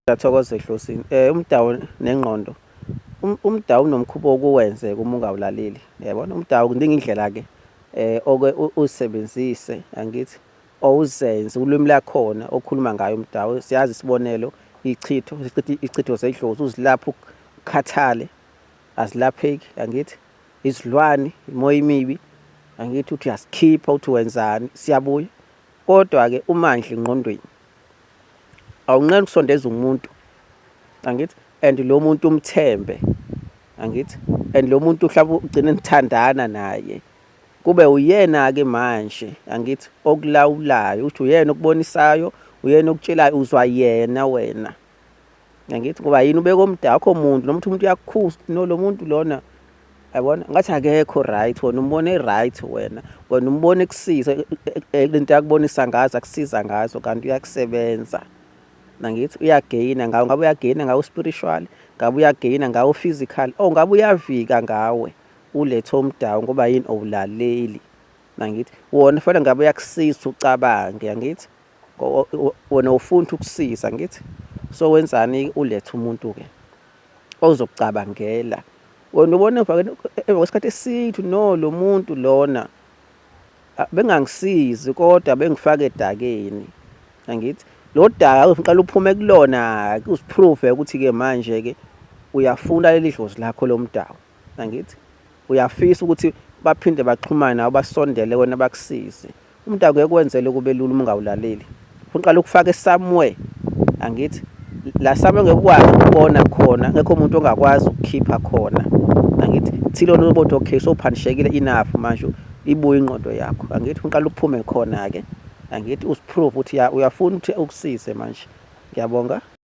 Ngyathokoza ehlosini eh umdawu nengqondo um, umdawu unomkhuba okuwenze uma ungawulaleli yabona umdawu kudinga indlela ke eh oke usebenzise angithi owuzenze ulwimi lakhona okhuluma ngayo umdawu siyazi isibonelo ichitho ichitho zedlozi uzilapha ukhathale azilapheki angithi izilwane imoya imibi angithi uthi uyasikhipha uthi wenzani siyabuya kodwa ke umandla ingqondweni awunqeni ukusondeza umuntu angithi and lo muntu umthembe angithi and lo muntu mhlawumbe ugcine nithandana naye kube uyena-ke manje angithi okulawulayo ukuthi uyena okubonisayo uyena okutshelayo uzwa yena wena ngithi ngoba yini ubeka omdala akho muntu nomuntu umuntu uyakukhusa no lo muntu lona yabona ngathi akekho right wena umbone right wena wena umbone kusiza e, e, e, lento yakubonisa ngazo akusiza ngazo kanti uyakusebenza nangithi uyageyina ngawo ngabe uyageyina ngawo spiritual ngabe uyageyina ngawo physical oh ngabe uyavika ngawe ulethe omdawu ngoba yini owulaleli nangithi wona fanele ngabe uyakusiza ucabange yangithi wena ufuna ukusiza ngithi so wenzani ulethe umuntu ke ozokucabangela wena ubona emva kwesikhathi esithu no lo muntu lona bengangisizi kodwa bengifake edakeni angithi lo daka uqala uphume kulona-ke uziprove ukuthi-ke manje-ke uyafuna leli dlozi lakho lomdawu angithi uyafisa ukuthi baphinde baxhumane nawe basondele wena bakusize umuntu akuye kwenzele kube lula uma ungawulaleli uqala ukufaka somewhere angithi la somewhere ngekwazi ukubona khona ngekho umuntu ongakwazi ukukhipha khona angithi thilo nobothi okay so phanishekile enough manje ibuye ingqondo yakho angithi uqala uphume khona ke angithi usiprove ukuthi uyafuna ukuthi ukusize manje ngiyabonga